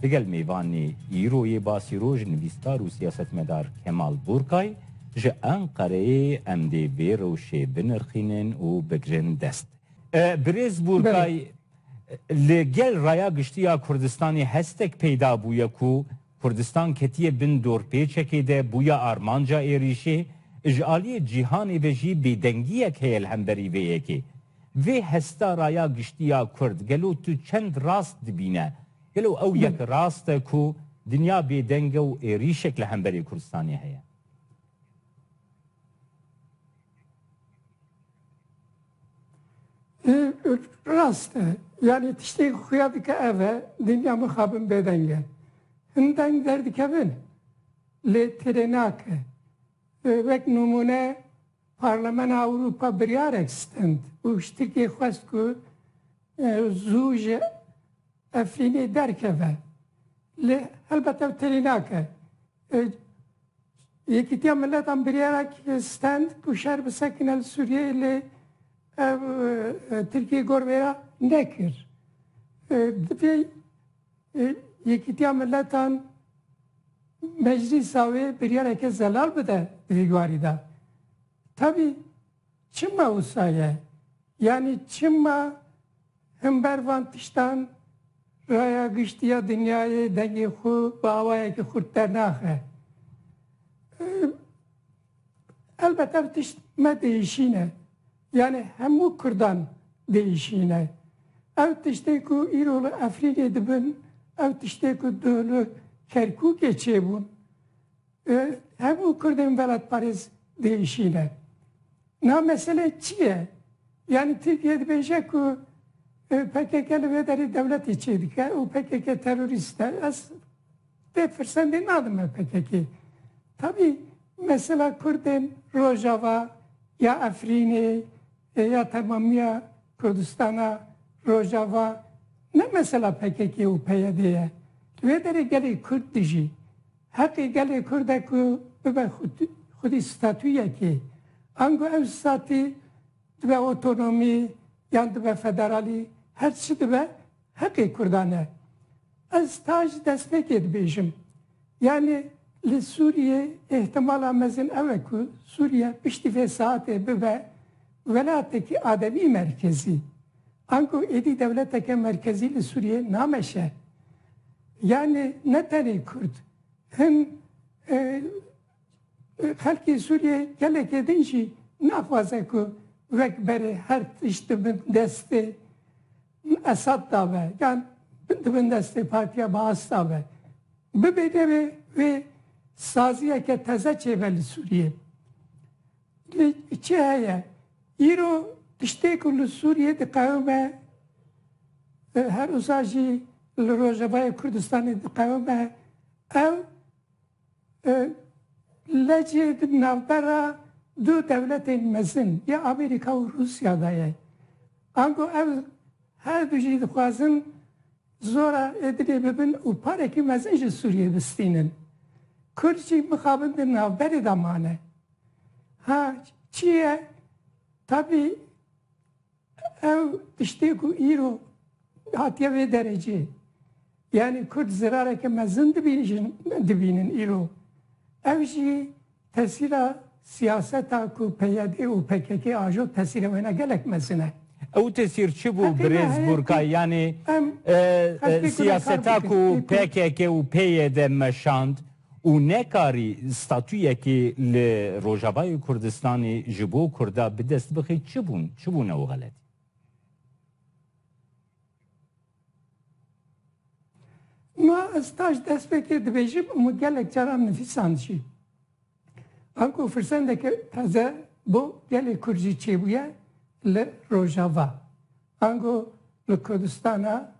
Digel mêvanê îroyê basî rojnivîstar û siyasetmedar Kemal Burkay ji Enqereyê em dê vê rewşê binirxînin û bigirin dest. Birêz Burkay, li gel raya giştî ya Kurdistanê hestek peyda bûye ku Kurdistan ketiye bin dorpêçekê de bûye armanca êrîşê, ji aliyê cîhanê ve jî bêdengiyek heye li hemberî vê yekê. Vê hesta raya giştî ya kurd gelo tu çend rast dibîne? Gelo ew yek rast e ku dinya bêdeng e û êrîşek li hemberê Kurdistanê heye? Rast e. Yanî tiştê ku xuya dike ev e, dinya mixabin bêdeng e. Hin deng derdikevin lê têrê nake. Wek nimûne Parlemena Ewropa biryarek stend û piştîgê xwest ku zû ji Efrînê derkeve. Lê helbet ew têrî nake. Yekîtiya Miletan biryarek stend ku şer bisekine li Sûriyeyê lê ev Tirkiyê gor vê re nekir. Divê Yekîtiya Miletan meclîsa wê biryareke zelal bide di vî warî de. Tevî çima wisa ye? Yanî çima himber van tiştan Raya Giştî ya Dinyayê dengê xwe bi awayekî xurt dernaxe? Elbet ev tişt ne dihişîne. Yanê hemû kurdan dihişîne. Ew tiştê ku îro li Efrînê dibin, ew tiştê ku duh li Kerkûkê çêbûn, hemû kurdên velatparêz dihişîne. Niha mesele çi ye? Yanî Tirkiye dibêje ku pkk li vê derê dewletê çêdike û pkk terorîst e. Ez Tê firsendê nadin me pkk. Tabî mesela kurdên rojava ya Efrînê ya temamiya Kurdistana rojava ne mesela pkk û PYD'ê ye. Li wê derê gelê kurd dijî. Heqê gelê kurd e ku bibe xwedî statuyekê. Ango ew statî dibe otonomî yan dibe federalî her çi dibe, Heqê Kurdan e. Ez ta ji destpêkê dibêjim. Yanî li Sûriyê îhtimala mezin ew e ku Sûriye piştî vê saetê bibe welatekî ademî merkezî. Ango êdî dewleteke merkezî li Sûriyê nameşe. Yanî ne tenê Kurd. Hin xelkê Sûriyê gelekê din jî naxwaze ku wek berê her tişt di bin destê Min esab da ve, gan min di bin destê partiya Baas da ve. Bibê nebê wê saziyeke teze çêbe li Sûriyê. Lê çi heye, îro tiştê ku li Sûriyê diqewime, herwisa jî li Rojavayê Kurdistanê diqewime, ew Lecê di navbera du dewletên mezin ya Amerîka û Rûsya de ye. Ango ev her du jî dixwazin zora Êdilê bibin û parekî mezin ji Sûriyê bistînin. Kurd jî mixabin di navberê de mane. Ha çi ye? Tabî Ew tiştê ku îro hatiye vê derecê yanî Kurd zirareke mezin dibîjin dibînin îro. Ev jî tesîra siyaseta ku PYD û PKK ajo tesîra wêne gelek mezin e. Ew tesîr çi bû Birêz Burkay yanî siyaseta ku PKK û PYD meşand? û nekarî statuyekê li Rojavayê Kurdistanê ji bo Kurda bi dest bixî çi bûn, çi bûn ew xeletî? Ma ez taş destpêkê dibêjim û min gelek caran nivîsand jî. Ango firsendeke taze bo gelê Kurd jî çêbûye li Rojava. Ango li Kurdistana.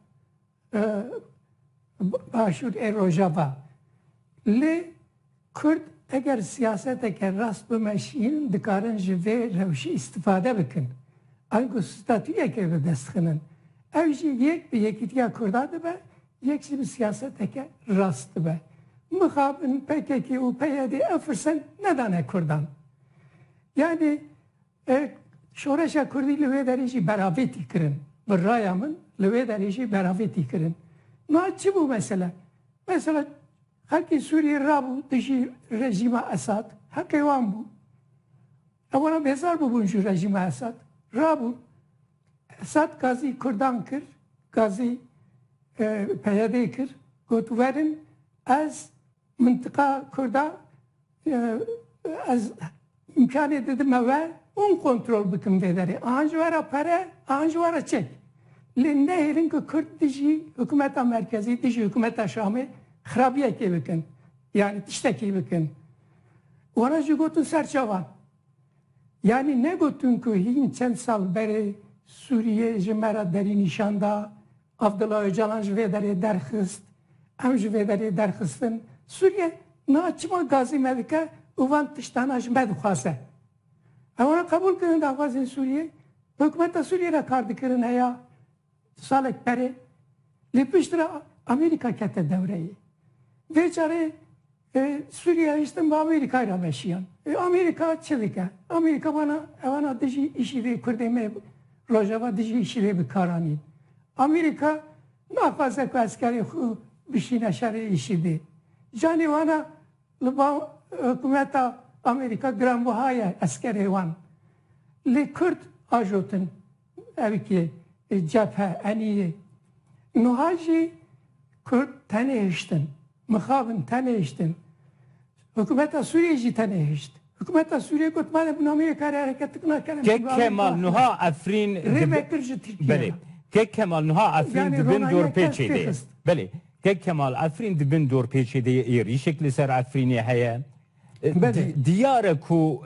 Başûr ê Rojava. Lê Kurd eger siyaseteke rast bimeşîn dikarin ji vê rewşê îstîfade bikin. Ango statuyeke bi dest xinin. Ew jî yek bi Yekîtiya Kurdan dibe, yek jî bi siyaseteke rast dibe. Mixabin pkk û PYD ev firsend nedane Kurdan. Yanî Şoreşa Kurdî li wê derê jî beravê tî kirin. Bi raya min li wê derê jî beravê tî kirin. Niha çi bû mesele? Mesele xelkê Sûriyê rabû dijî rejîma Esad. Heqê wan bû. Ewera bêzar bûbûn ji rejîma Esad. Rabûn. Esad gazî Kurdan kir, gazî PYD'ê kir. Got werin ez mintiqa Kurda Ez îmkanê didime we hûn kontrol bikim vê derê. Ahan ji we re pere, ahan ji we re çek. Lê nehêlin ku Kurd dijî hikûmeta merkezî, dijî hikûmeta Şamê xirabiyekê bikin. Yanî tiştekî bikin. Wara jî gotin ser çavan. Yanî negotin ku hîn çend sal berê Sûriyê ji me re derî nîşan da. Abdullah Ocalan ji vê derê derxist, em ji vê derê derxistin. Sûriye niha çima gazê me dike û van tiştana ji me dixwaze? Ew an qebûl kirin daxwazên Sûriyê, bi hikûmeta Sûriyê re kar dikirin heya du salek berê. Lê piştre Amerîka kete dewreyê. Vê carê Ê Sûriya hiştin bi Amerîkayê re veşiyan. Ê Amerîka çi dike? Amerîka vana ewana dijî îşîdê kurdê me rojava dijî îşîdê bi kar anîn. Amerîka naxwaze ku eskerê xwe bişîne şerê îşîdê. Canê wana li ba hikumeta Amerîka giranbiha ye eskerê wan. Lê kurd ajotin. erkê cephe enîyê. Nuha jî kurd tenê hiştin, mixabin tenê hiştin. Hikûmeta Sûriyeyê jî tenê hişt. Hikûmeta Sûriyeyê got ma de bi namê yê karê hereketik nakin em Kek pîvanên Kemal axivî. Nuha Efrîn Rê vekir ji Tirkiyeyê Belê. re. Kek Kemal Nuha Efrîn Yanî di bin ronahîya kes dorpêçê de ye. pêxist. Belê. Kek Kemal Efrîn di bin dorpêçê de ye, êrîşek li ser Efrînê heye. Diyar e ku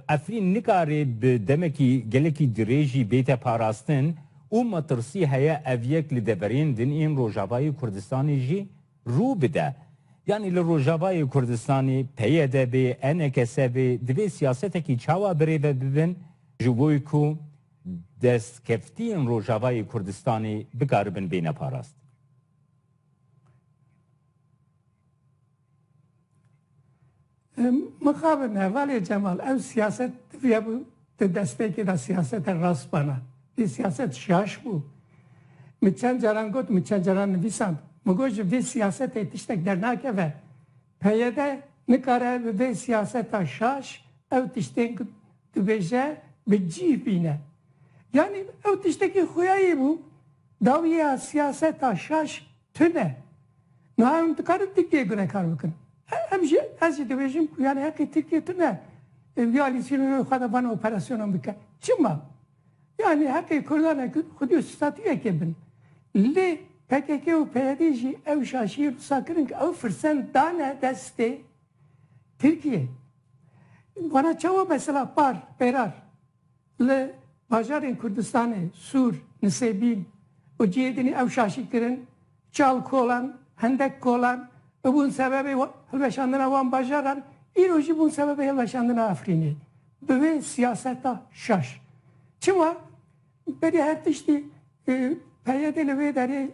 Efrîn nikare bi demekî gelekî dirêjî bête parastin û metirsî heye ev yek li deverên din ên Rojavayê Kurdistanê jî rû bide. Yanî li Rojavayê Kurdistanê PYD bê, ENKS bê divê siyasetekî çawa birêve bibin ji bo ku destkeftiyên Rojavayê Kurdistanê bikaribin bêne parastin? Mixabin hevalê Cemal ew siyaset diviya bû di destpêkê de siyasete rast bana. Vê siyaset şaş bû. Min çend caran got, min çend caran nivîsand. Min got ji vê siyasetê tiştek dernakeve. PYD nikare bi vê siyaseta şaş ew tiştên ku dibêje bi cîh bîne. Yanî ew tiştekî xweyayî bû dawîya siyaseta şaş Tune. Niha em dikarin Tirkiyeyê binekar bikin. Em jî ez jî dibêjim ku yanî heqê Tirkiye tune em vî alî sînorê xwe de van operasyonan bike. Çima? Yanî heqê kurdan e ku xwedî û statuyekê bin. Lê pkk û peyedê jî ew şaşiyê wisa kirin ku ew firsend dane destê Tirkiyeyê. Vana çawa mesela par, pêrar Li bajarên Kurdistanê Sûr, Nisêbîn û cihê dinê ew şaşî kirin, çal kolan, hendek kolan û bûn sebebê hilweşandina wan bajaran, îro jî bûn sebebê hilweşandina Efrînê bi vê siyaseta şaş. Çima? Berî her tiştî PYD'ê li vê derê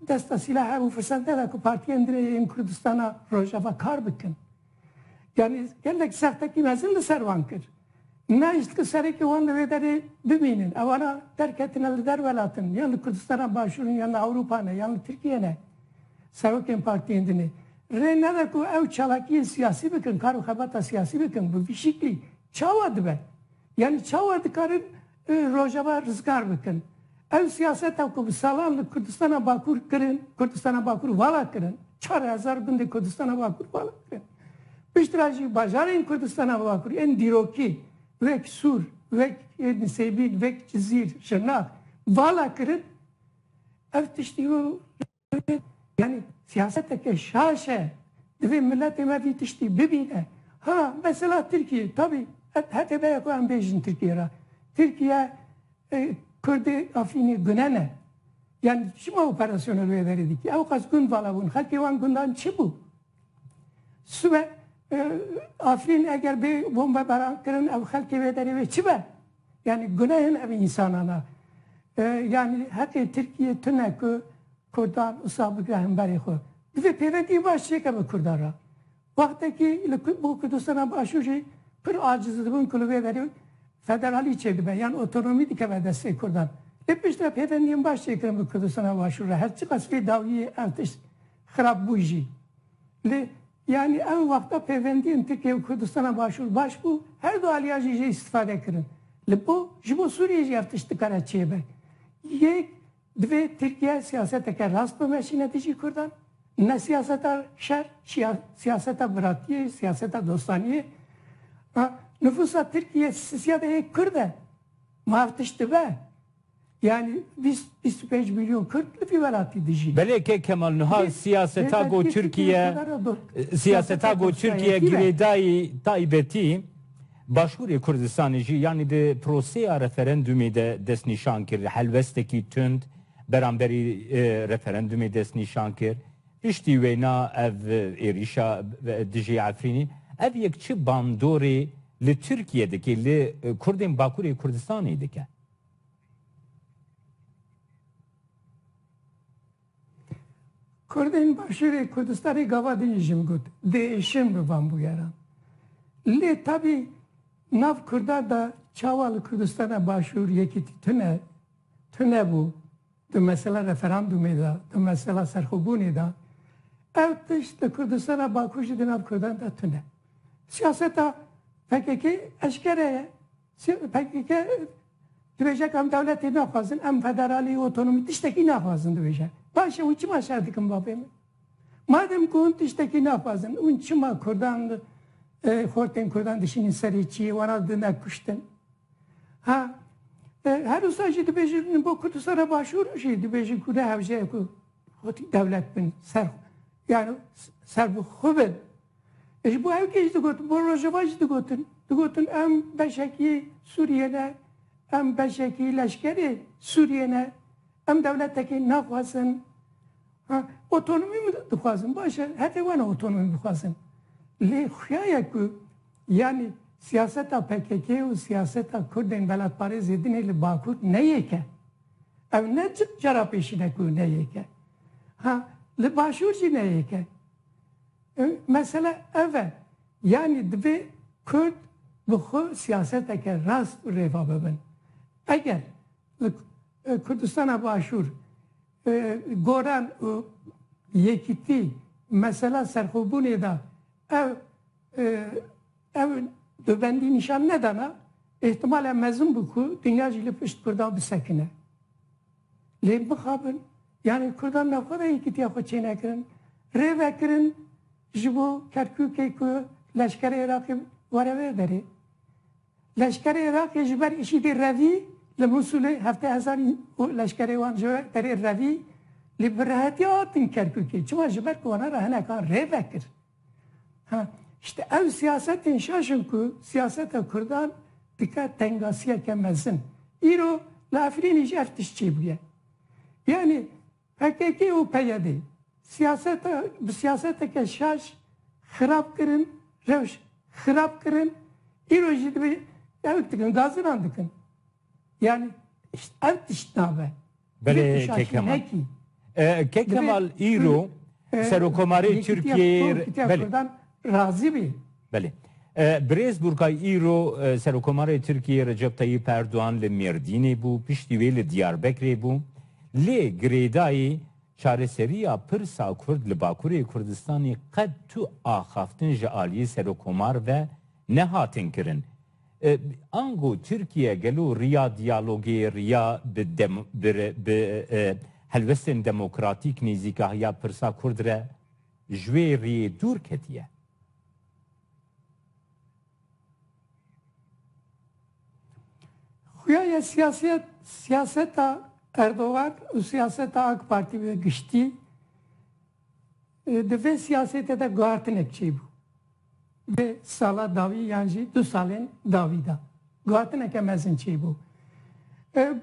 desta sîlah hebû firsente da ku partiyên dinê yên Kurdistana Rojava kar bikin. Yanî gelek sextekî mezin li ser wan kir. Nehişt ku serekê wan li vê derê bimînin. Ewana derketine li der welatin, yan li Kurdistana Başûr in, yan li Ewropa ne, yan li Tirkiye ne. Serokên partiyên din ê rê nede ku ew çalakiyên siyasî bikin, kar û xebata siyasî bikin. Bi vî şiklî çawa dibe? Yanî çawa dikarin Di Rojava rizgar bikin. Ew siyaseta ku bi salan li Kurdistana Bakur kirin, Kurdistana Bakur vala kirin, çar hezar gundê Kurdistana Bakur vala kirin. Piştre jî bajarên Kurdistana Bakur ên dîrokî wek Sûr, wek Nisêbîn, wek Cizîr, Şirnax vala kirin. Ev tiştî ku. yani siyaseteke şaş e. Divê miletê me vî tiştî bibîne. Ha mesela Tirkiye tabî hetê be ye ku em bêjin Tirkiye re. Tirkiye Kurdê Afrînê gune ne. Yani çima operasyona li wê verê dikî? Ew qas gund vala bûn. Xelkê wan gundan çi bû? Sibe Afrîn eger bê bombebaran kirin ew xelkê wê derê wê çi be? Yanî gunehên ev însanan a. Yanî heqê Tirkiyê tune ku kurdan usa bigre hemberê xwe. Divê pêvekî baş çêke bi kurdan re. Wextekî li bo Kurdistana Başûr jî pir aciz dibin ku li vê derê federalî çêdibe yan otonomî dikeve destê kurdan. Lê piştre pêvendiyên baş çêkirin bi Kurdistana Başûr re. Her çiqas vê dawiyê ev tişt xirab bû jî. Lê Yanî ew wexta pêvendiyên Tirkiye û Kurdistana Başûr baş bû, her du aliyan jî jê îstîfade kirin. Li bo ji bo Sûriyeyê jî ev tişt dikare çêbe. Yek, divê Tirkiye siyaseteke rast bimeşîne dijî Kurdan. Ne siyaseta şer, siyaseta biratiyê, siyaseta dostaniyê. Nifûsa Tirkiyeyê siyada yek Kurd e. Ma ev tişt dibe. Yani bîst, bîst û pênc milyon Kurd li vî welatî dijîn. Belê kek Kemal niha siyaseta ku Tirkiye siyaseta ku Tirkiye girêdayî taybetî Başûrê Kurdistanê jî yanî di proseya referendumê de destnîşan kir. Helwestekî tund beramberî referendumê destnîşan kir. Piştî wêna ev êrîşa dijî Efrînî ev yek çi bandorê li Tirkiye dike, li Kurdên Bakûrê Kurdistanê dike? Kurdên Başûrê Kurdistanê gava din jî jim got, diêşin bi van bûyeran. Lê tabî nav kurdan de çawa li Kurdistana Başûr yekîtî tune tunebû di mesela referandûmê de, di mesela serxwebûnê de. Ev tişt li Kurdistana Bakur jî di nav kurdan de tune. Siyaseta PKK'ê eşkere ye. PKK dibêje em dewletê naxwazin, em federalî, otonomî tiştekî naxwazin dibêje. Baş e hûn çima şer dikin bavê min? Madem ku hûn tiştekî naxwazin hûn çima kurdan xortên kurdan dişînin serê çiyê wana didin ev kuştin? Ha her wisa jî dibêjin bo Kurdistana Başûr jî dibêjin ku ne hewce ye ku xwetî dewlet bin ser yani serbixwe bin. Ji bo ew kê jî digotin, bo Rojava jî digotin. Digotin em beşekî Sûriyê ne, em beşekî leşkerê Sûriyê ne, em dewletekî naxwazin. Ha, otonomî min dixwazin, baş e, hetê wan e otonomî bixwazin. Lê xuya ye ku yanî siyaseta pkk û siyaseta Kurdên welatparêzê din ê li Bakur ne yek e. Ew ne cara pêşîn e ku ne yek e. Ha, li Başûr jî ne yek e. Mesele ev e, yanî divê Kurd bi xwe siyaseteke rast û rêva bibin. Eger li Kurdistana Başûr Goran û Yekîtî mesela serxwebûnê de ev ev dubendî nîşan nedana, îhtimal e mezin bû ku dinya jî li pişt Kurdan bisekine. Lê bixabin yanî kurdan navxwe de yekîtiya xwe çênekirin, rê vekirin ji bo Kerkûkê ku leşkerê Iraqê were vê derê. Leşkerê Iraqê ji ber IŞױD'ê revî li Mûsulê hevdeh hezar leşkerê wan ji derê revî lê bi rehetiya hatin Kerkûkê çima ji ber ku wana re hinekan rê vekir. İşte ev siyasetên şaşin ku siyaseta Kurdan dike tengasiyeke mezin. Îro li Efrînê jî ev tişt çêbûye. Yanî PKK û PYD siyaseta bi siyaseteke şaş xirab kirin, rewş xirab kirin. Îro jî divê ew dikin, gazinan dikin. Yani ev tişt nabe. Belê Kekemal. Kekemal îro Serokomarê Tirkiyeyê Kurdan razî bî. Belê. Birêz Burkay îro Serokomarê Tirkiyeyê Recep Tayyîp Erdogan li Mêrdînê bû, piştî wê li Diyarbekirê bû. Lê girêdayî çareseriya pirsa Kurd li Bakurê Kurdistanê qet tu axaftin ji aliyê Serokomar ve nehatin kirin. Ango Tirkiye gelo riya diyalogê riya bi helwestên demokratîk nêzîkahiya pirsa kurd re ji wê riyê dûr ketiye? Xuya ya siyasiyet, siyaseta Erdogan û siyaseta AK Partî bi giştî di vê siyasête de guhertinek çêbû. Vê sala dawî yan jî du salên dawî de guhatineke mezin çêbû.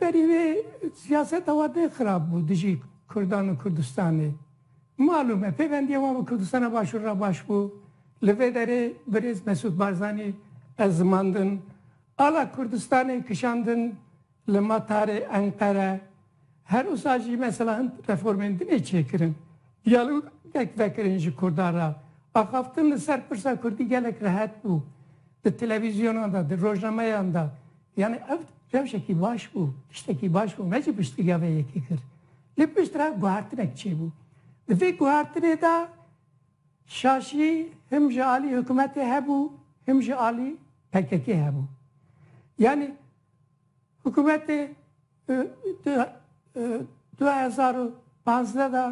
Berî wê siyaseta wan tên xirab bû dijî Kurdan û Kurdistanê. Malûm e pêvendiya wan bi Kurdistana Başûr re baş bû. Li vê derê birêz Mesûd Barzanî ez zimandin, ala Kurdistanê kişandin. Li Matarê, Enqere, her wisa jî mesela hin reformên din ê çêkirin. Diyalogek vekirin ji Kurdan re. Axaftin li ser pirsa Kurdî gelek rehet bû. Di televîzyonan de, di rojnameyan de. Yanî ev rewşekî baş bû, tiştekî baş bû. Me jî piştgiriya vê yekê kir. Lê pişt re guhertinek çêbû. Di vê guhertinê de şaşî him ji alî hikumetê hebû, him ji alî PKK'ê hebû. Yanî. Hikûmetê di du hezar û panzdeh de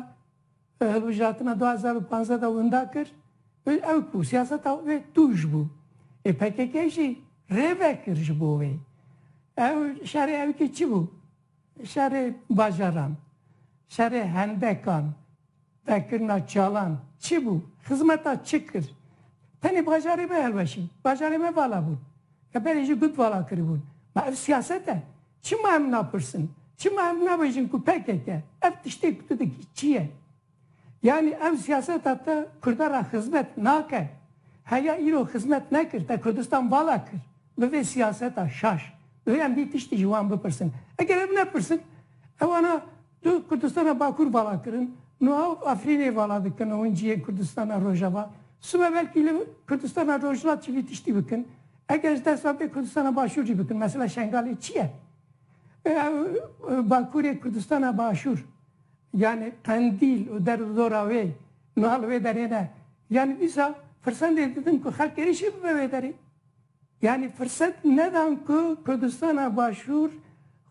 hilbijartina du hezar û panzdeh de winda kir û ew ku siyaseta wê tûj bû. Ê PKK jî rê vekir ji bo wê. Ew şerê ew kî çi bû? Şerê bajaran, şerê hendekan, vekirina çalan çi bû? Xizmeta çi kir? Tenê bajarê me hilweşî, bajarê me vala bûn. Ke berê jî gut vala kiribûn. Ma ev siyaset e? Çima em napirsin? Çima em nabêjin ku pkk ev tiştê ku tu dikî çi ye? Yanî ev siyaseta te Kurda re xizmet nake. Heya îro xizmet nekir, te Kurdistan vala kir bi vê siyaseta şaş. Divê em vî tiştî ji wan bipirsin. Eger ev nepirsin, ewana tu Kurdistana Bakur vala kirin, nuha Efrînê vala dikin û hûn cihê Kurdistana Rojava. Sibe belkî li Kurdistana Rojhilat jî vî tiştî bikin. Eger ji dest ve bê Kurdistana Başûr jî bikin. Mesela Şengalê çi ye? Ew Bakurê Kurdistana Başûr. Yanî Qendîl û derz û dora wê niha li wê derê ne. Yanî dîsa firsendê didim ku xelk êrîşî bibe wê derê. Yanî firset nedan ku Kurdistana Başûr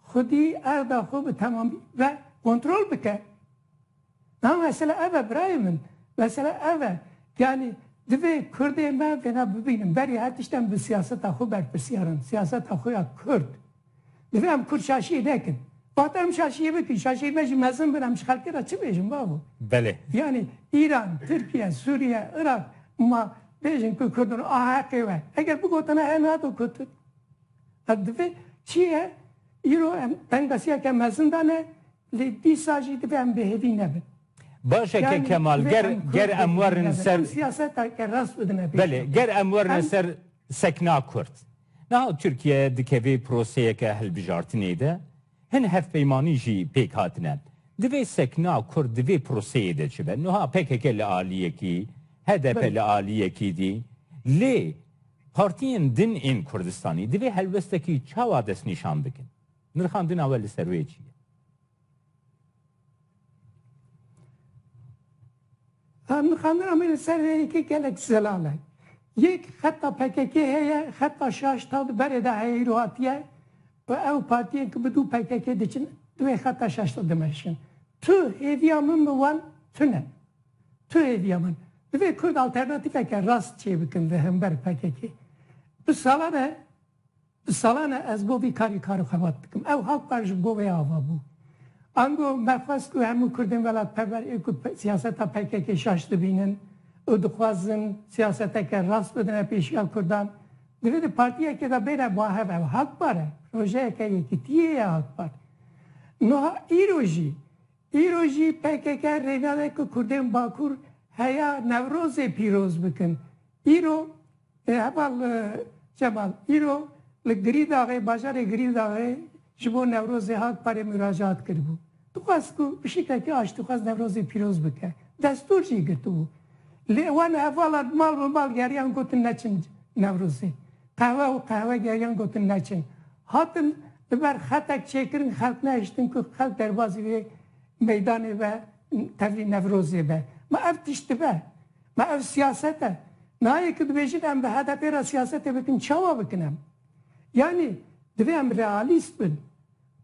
xwedî erda xwe bi temamî ve kontrol bike. Niha mesela ev e birayê min. Mesela ev e. Yanî divê Kurdê me vêna bibînin. Berî her tişt em bi siyaseta xwe berpirsiyar in. Siyaseta xwe ya Kurd. Divê em kurd şaşiyê nekin. Wate em şaşiyê bikin. Şaşiyên me jî mezin bin. Em ji xelkê re çi bêjin bavo? Belê. Yanî Îran, Tirkiye, Sûriye, Iraq ma bêjin ku kurdin a heqê we. Eger bigotina he nado gotin. Hev divê çi ye? Îro em dengbesiyeke mezin dane lê dîsa jî divê em bêhêvî nebin. Baş e ke Kemal ger ger em werin ser. Siyaseta ke rast bidine pêş. Belê. Ger em werine ser. Sekna Kurd, Niha Tirkiye dikeve proseyeke hilbijartinê de, hin hevpeymanî jî pêk hatine. Divê sekna Kurd di vê proseyê de çi be? Niha pkk li aliyekî, hdp li aliyekî dî. Lê partiyên din ên Kurdistanî divê helwestekî çawa destnîşan bikin? Nirxandina we li ser wê çi ye? Nixandina me li ser rê yekê gelek zelal e. Yek xeta pkk heye, xeta şaş taw di berê de heye îro hatiye û ew partiyên ku bi dû pkk diçin di wê xeta şaş de dimeşin. Tu hêviya min bi wan tune. Tu hêviya min. Divê kurd alternatîfeke rast çêbikin li hember pkk. Bi salan e. Bi salan e ez bo vî karî kar û xebat dikim. Ew hak bar ji bo wê ava bû. Ango me xwest ku hemû kurdên welatperwer ê ku siyaseta pkk şaş dibînin û dixwazin siyaseteke rast bidine pêşiya kurdan, divê di partiyekê de bêne bahev. Ew hak bar e. Projeyeke yekîtiyê ye hak bar. Nuha îro jî Îro jî pkk rênade ku kurdên Bakur heya Newrozê pîroz bikin. Îro Heval Cemal îro li Girîdaxê bajarê Girîdaxê ji bo Newrozê hat parê muracaat kiribû. Dixwest ku pişikeke aştîxwaz Newrozê pîroz bike. Destûr jî girtibû. Lê wan hevala mal bi mal geriyan gotin neçin Newrozê. Qehwe û qehwegeriyan gotin neçin. Hatin Li ber xetek çêkirin xelk nehiştin ku xelk derbazî vê meydanê be tevlî Newrozê be. Ma ev tişt dibe? Ma ev siyaset e? Nayê ku dibêjin em bi HDP'ê re siyasetê bikin çawa bikin em? Yanî divê em realîst bin.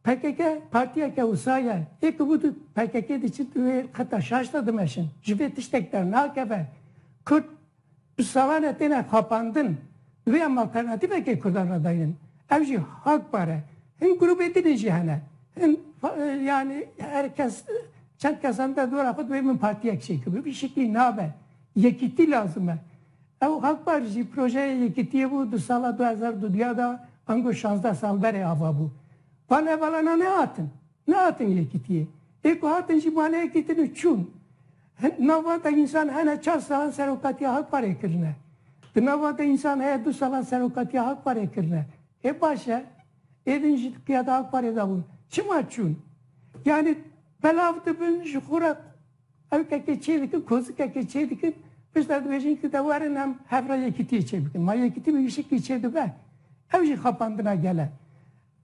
Pkk partiyeke wisa ye. Ê ku bû tu pkk diçin tu wê xeta şaş de dimeşin. Ji vê tiştek dernakeve. Kurd. Bi salan re têne xapandin. Divê em alternatîfeke kurdan re dayînin. Ev jî hak par e. Hin grûbê din jî hene. Hin yanî her kes çend kesan de dora xwe divê min partiyek çêkim. Bi vî şeklî nabe. Yekîtî lazim e. Ew hak par jî projeyê yekîtiyê bû di sala du hezar û duya de ango şazdeh sal berê ava bû. Van hevalan nehatin. Nehatin yekîtiyê. Ê ku hatin jî bale yekîtin û çûn. Hin nav van de însan hene çar salan serokatiya Hakparê kirine. Di nav van de însan heye du salan serokatiya Hakparê kirine. Ê baş e. Ê din jî di qiyada Hakparê de bûn. Çima çûn? Yanî belav dibin ji xwe re ewkekê çê dikin, kozikekê çê dikin. Piştre dibêjin ki de werin hem hev re yekîtiyê çê bikin. Ma yekîtî bi wî şeklî çê dibe? Ew jî xapandina gel e.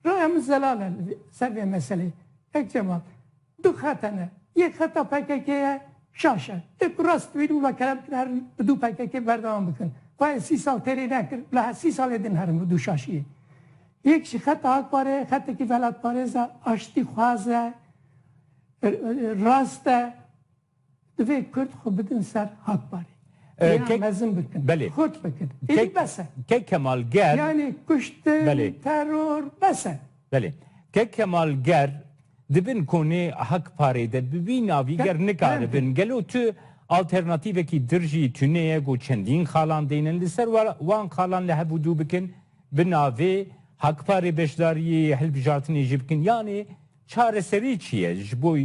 Rê em zelal in li ser vê meselê. Kek Cemal, Du xet hene. Yek xeta pkk ye, şaş e. Ê ku rast bibînin wila kerem kir herin bi du pkk berdewam bikin. Xwe ê sî sal têrê nekir, bila her sî salê din herin bi du şaşiyê. Yek jî xeta ak parê ye, xetekî velatparêz e, aştîxwaz e, rast e. Divê Kurd xwe bidin ser Hakparê. Rêya mezin bikin. Belê. Xurt bikin. Êdî bes e. Kek Kemal ger. Yanî kuştin, teror bes e. Belê. Kek Kemal ger di bin konê Hakparê de bi vî navî ger nikaribin. Gelo tu alternatîvekî dir jî tune ye ku çendîn xalan deynin li ser wan xalan li hev û dû bikin bi navê Hakparê beşdariyê hilbijartinê jî bikin. Yanî çareserî çi ye ji bo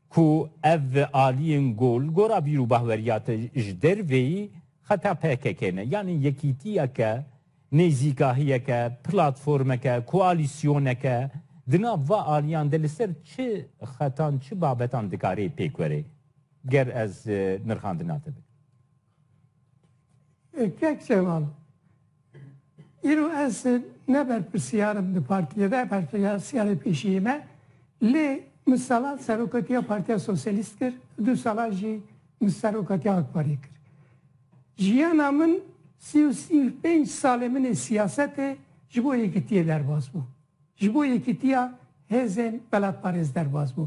Ku ev aliyên ku li gora bîr û bahweriya te ji derveyî xeta pkk ne. Yanî yekîtiyeke, nêzîkahiyeke, platformeke, koalîsyoneke di nav va aliyan de li ser çi xetan, çi babetan dikarê pêk were? Ger ez nirxandina te bikim. Kek Şeval, Îro ez ne berpirsiyar im di partiyê de, berpirsiyarê pêşiyê me lê min salan serokatiya Partiya Sosyalîst kir, du salan jî min serokatiya Akpariyê kir. Jiyana min sî û sî û pênc salê min ê siyasetê ji bo yekitiyê derbas bû. Ji bo yekitiya hêzên welatparêz derbas bû.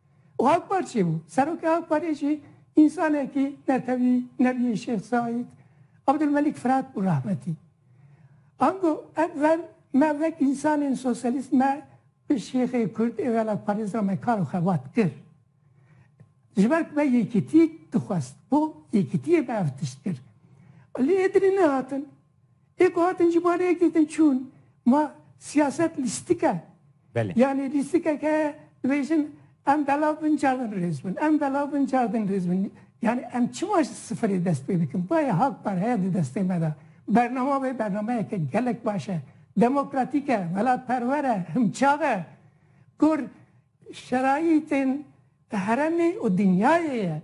Û ew par çêbû. Serokê ew parê jî însanekî netewî Nebiyê Şêx Saîd, Abdulmelik Firat bû rehmetî. Ango ev ver me wek însanên sosyalîst me bi şêxê kurd ê welatparêz re me kar û xebat kir. Ji ber ku me yekîtî dixwest, bo yekîtiyê me ev tişt kir. Lê ê dilê nehatin. Ê ku hatin ji bo rêk dîtin çûn. Ma siyaset lîstik e. Belê. Yanî lîstikek heye dibêjin em belav bin car din rêz bin, em belav bin car din rêz bin. Yanî em çima ji sifirê dest pê dikin? Bayê hak par heye di destê me de. Bernama wê bernameyeke gelek baş e. Demokratîk e, welatperwer e, himçav e. Kur şerayîtên heremê û dinyayê ye.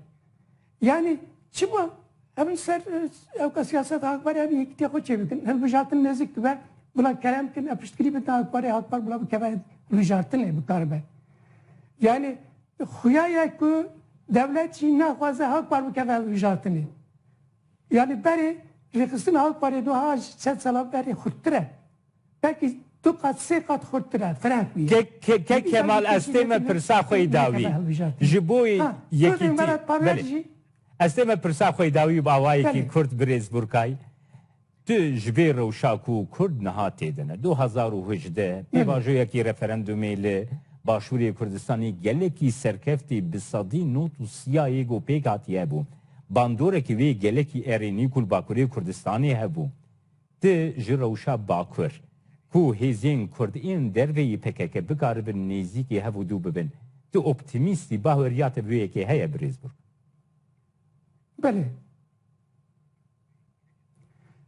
Yanî çima em li ser ewka siyaseta Akparê em yekîtiya xwe çêbikin, hilbijartin nêzik dibe, bila kerem bikin, em piştgirî bikin Akparê, Akpar bila bikeve hilbijartinê bikaribe. Yanî xuya ye ku dewlet jî naxwaze Akpar bikeve hilbijartinê. Yanî berê rêxistina Akparê wiha ji çend sala berê xurttir e. Peki du qat sê qat xurttir e firek bî. Ke Kemal ez tê me pirsa xwe yî dawî ji bo yekîtî belê ez tê me pirsa xwe yî dawî bavayekî kurd birêz Burkay tu ji vê rewşa ku kurd niha tê de ne du hezar û hejdeh pêvajoyekî referendumê li başûrê Kurdistanê gelekî serkeftî bi sedî not û siyayê ku pêk hatî hebû bandorekî wê gelekî erênî ku li bakurê Kurdistanê hebû Ti ji rewşa bakur, ku hêzên kurd ên dervê yê pkk bikaribin nêzîkî hev û dû bibin, tu optimîst î, baweriya te bi wê yekê heye birêz Burk? Belê.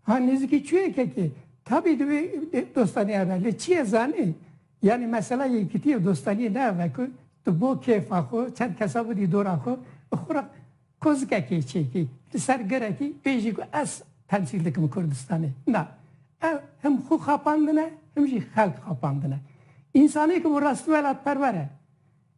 Ha nêzîkî çûye kekê, tabî divê dostanî hebe. Lê çi ye zanî? Yanî mesela yekîtî û dostanîyê neheve ku tu bo kêfa xwe, çend kesa bidî dora xwe û xwe re Kozikekê çêkî li ser girekî pê jî ku ez temsîl dikim Kurdistanê. Na, ev him xwe xapandin e him jî xelk xapandin e. Însanê ku bi rastî welatperwer e,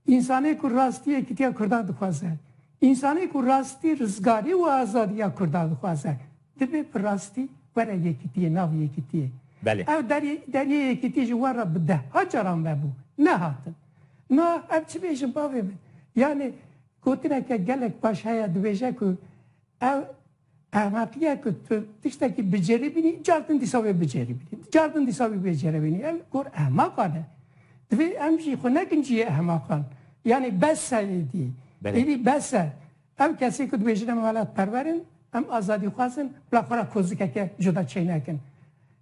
însanê ku rastî yekîtiya Kurdan dixwaze, însanê ku rastî rizgarî û azadî ya Kurdan dixwaze divê bi rastî were yekîtiyê nav yekîtiyê. Belê. Ew derê deriyê yekîtî ji wan re bi deha caran vebû, nehatin. Na, ev çi bêjin bavê min? Yanê Gotineke gelek baş heye dibêje ku ew ehmeqiye ku tu tiştekî biceribînî car din dîsa wê biceribînî. Car din dîsa wî bêceribînî. Ev gor ehmeqan e. Divê em jî xwe nekin cihê ehmeqan. Yanî bes e êdî. Êdî bes e. Ew kesê ku dibêjin em welatperwer in, em azadîxwaz in bila xwe re kozikeke cuda çênekin.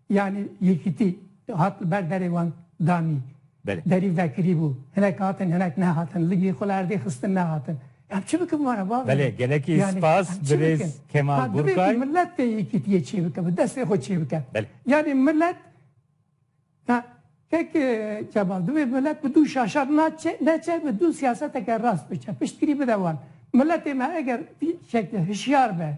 Yanî yekîtî hat li ber derê wan danî. Derî vekirî bû. Hinek hatin hinek nehatin. Ligî xwe li erdê xistin nehatin. Em çi bikin were bavê? Belê gelekî spas birêz Kemal Burkay. Divê ku milet tê yekîtiyê çêbike bi destê xwe çêbike. Yanî milet ya kek Kemal divê milet bi dû şaşar neçe bi dû siyaseteke rast biçe. Piştgirî bide wan. Miletê me eger vî şeklê hişyar be.